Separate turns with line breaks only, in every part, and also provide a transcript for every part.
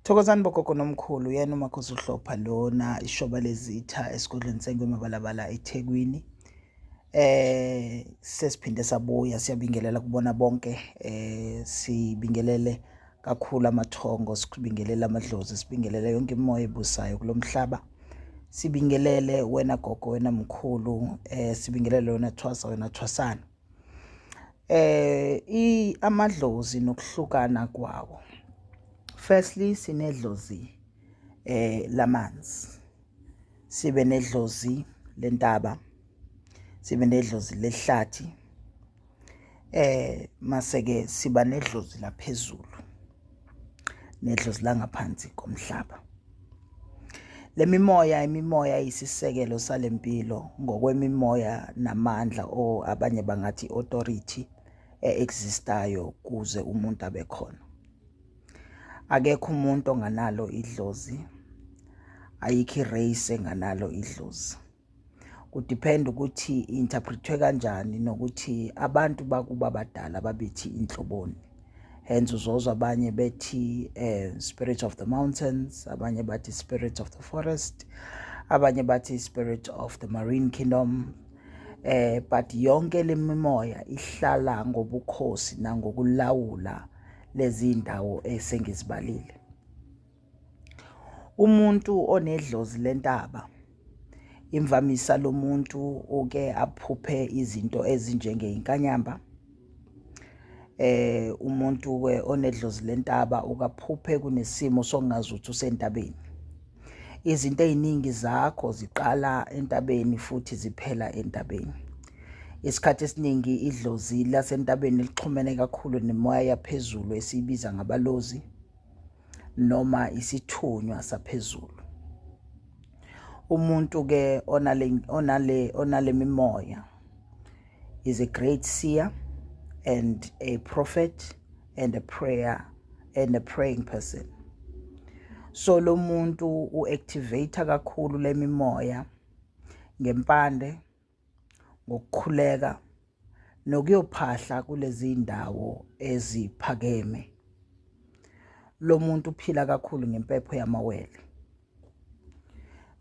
Thokozani bogogo nomkhulu yena umakhosi uhlopha lona ishoba lezitha esigodlweni sengwema balabala eThekwini eh sesiphinde sabuya siyabingelela kubona bonke eh sibingelele kakhulu amathongo sibingelele amadlozi sibingelele yonke imoya ebusayo kulomhlaba sibingelele wena gogo wena mkhulu eh sibingelele wena thwasa wena thwasana eh amadlozi nokuhlukana kwawo firstly sinedlozi eh lamanzi sibe nedlozi lentaba sibe nedlozi lehlathi eh maseke siba nedlozi laphezulu nedlozi langaphansi komhlaba. Lemimoya imimoya isisekelo salempilo ngokwemimoya namandla o abanye bangathi authority eexistayo kuze umuntu abe khona. Akekho umuntu onganalo idlozi ayikho irace enganalo idlozi. kudiphenda ukuthi interpretwe kanjani nokuthi abantu bakuba badala babethi inhloboni hence uzozwa abanye bethi eh, spirit of the mountains abanye bathi spirit of the forest abanye bathi spirit of the marine kingdom eh but yonke lemimoya ihlala ngobukhosi nangokulawula lezi ndawo esengizibalile Umuntu onedlozi lentaba imvamisa lo muntu uke aphuphe izinto ezinjengey'nkanyamba eh umuntu ke onedlozi lentaba ukaphuphe kunesimo sokungazi ukuthi usentabeni izinto eziningi zakho ziqala entabeni futhi ziphela entabeni isikhathi esiningi idlozi lasentabeni lixhumene kakhulu nemoya yaphezulu esiyibiza ngabalozi noma isithunywa saphezulu umuntu ke onale onale onale mimoya is a great seer and a prophet and a prayer and a praying person so lo muntu uactivate kakhulu lemimoya ngempande ngokukhuleka nokuyophahla kulezi ndawo eziphakeme lo muntu uphila kakhulu ngempepho yamawele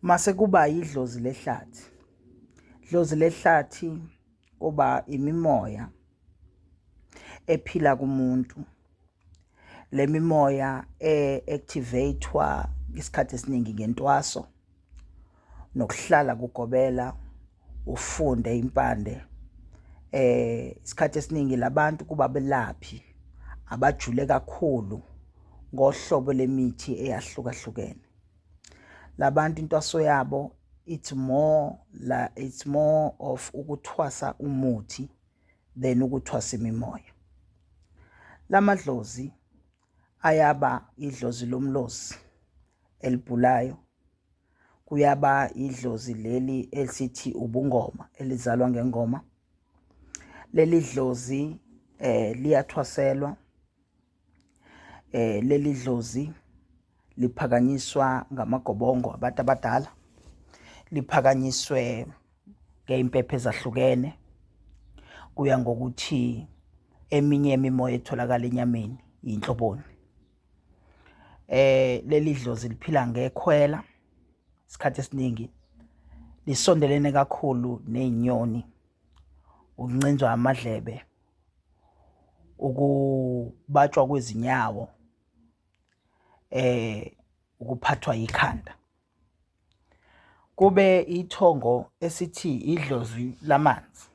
mase kuba yidlozi lehlathi dlozi lehlathi kuba imimoya ephila kumuntu le mimoya e-activatwa isikhathi esiningi ngentwaso nokuhlala kugobela ufunde impande eh isikhathi esiningi labantu kuba belaphi abajule kakhulu ngohlobo lemithi eyahlukahlukene labantu intwaso yabo it's more la it's more of ukuthwasa umuthi than ukuthwasa imimoya lamadlozi ayaba idlozi lomlozi elibhulayo kuyaba idlozi leli elithi ubungoma elizalwa ngengoma leli dlozi eh liyathwaselwa eh leli dlozi liphakanyiswa ngamagobongo abantu abadala liphakanyiswe ngeimpephe ezahlukene kuya ngokuthi eminye imimoya etholakala enyameni yinhloboni eh leli dlozi liphila ngekhwela isikhathi esiningi lisondelene kakhulu nezinyoni uncinzwa amadlebe ukubatshwa kwezinyawo eh ukuphathwa yikhanda kube ithongo esithi idlozi lamanzi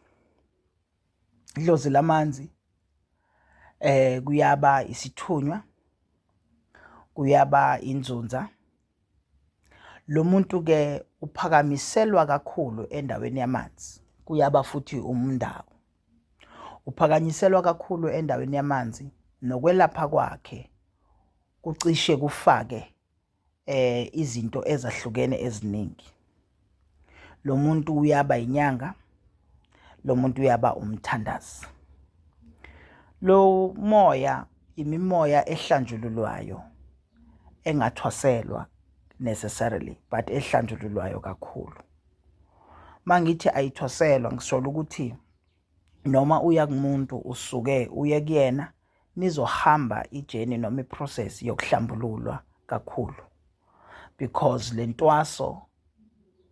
idlozi lamanzi eh kuyaba isithunywa kuyaba inzunza Lo muntu ke uphakamiselwa kakhulu endaweni yamanzi kuyaba futhi umndawo. Uphakanyiselwa kakhulu endaweni yamanzi nokwelapha kwakhe kucishe kufake eh izinto ezahlukene eziningi. lo muntu uyaba inyanga lo muntu uyaba umthandazi lo moya imimoya ehlanjululwayo engathwaselwa necessarily but ehlanjululwayo kakhulu mangithi ayithwaselwa ngisolo ukuthi noma uya kumuntu usuke uye kuyena nizohamba ijeni noma iprocess yokuhlambululwa kakhulu because le ntwaso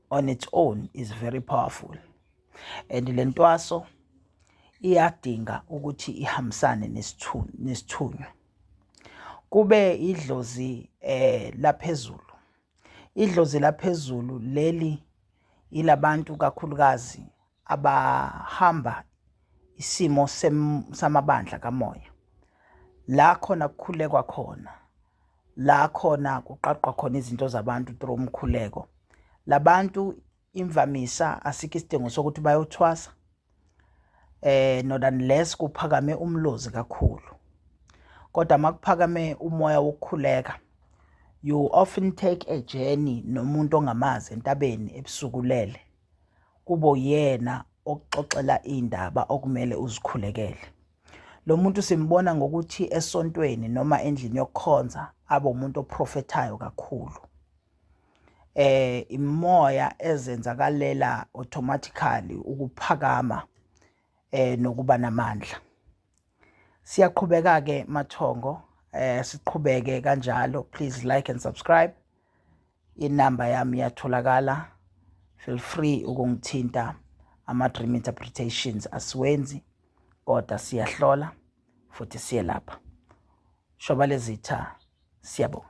on its own is very powerful and le ntwaso iyadinga ukuthi ihambisane nesithunywa kube idlozi eh laphezulu idlozi laphezulu leli ilabantu kakhulukazi abahamba isimo samabandla kamoya la khona kukhulekwa khona la khona kuqaqwa khona izinto zabantu through umkhuleko labantu imvamisa asikho isidingo sokuthi bayothwasa eh not unless kuphakame umlozi kakhulu kodwa makuphakame umoya wokukhuleka you often take a journey nomuntu ongamazi entabeni ebusukulele kube uyena okuxoxela iy'ndaba okumele uzikhulekele. Lo muntu simbona ngokuthi esontweni noma endlini yokukhonza abe umuntu oprofethayo kakhulu. Eh imoya ezenzakalela automatically ukuphakama eh nokuba namandla. Siyaqhubeka ke mathongo eh siqhubeke kanjalo please like and subscribe. Inamba yami iyatholakala feel free ukungithinta ama dream interpretations asiwenzi kodwa siyahlola futhi siyelapha. Shoba lezitha siyabonga.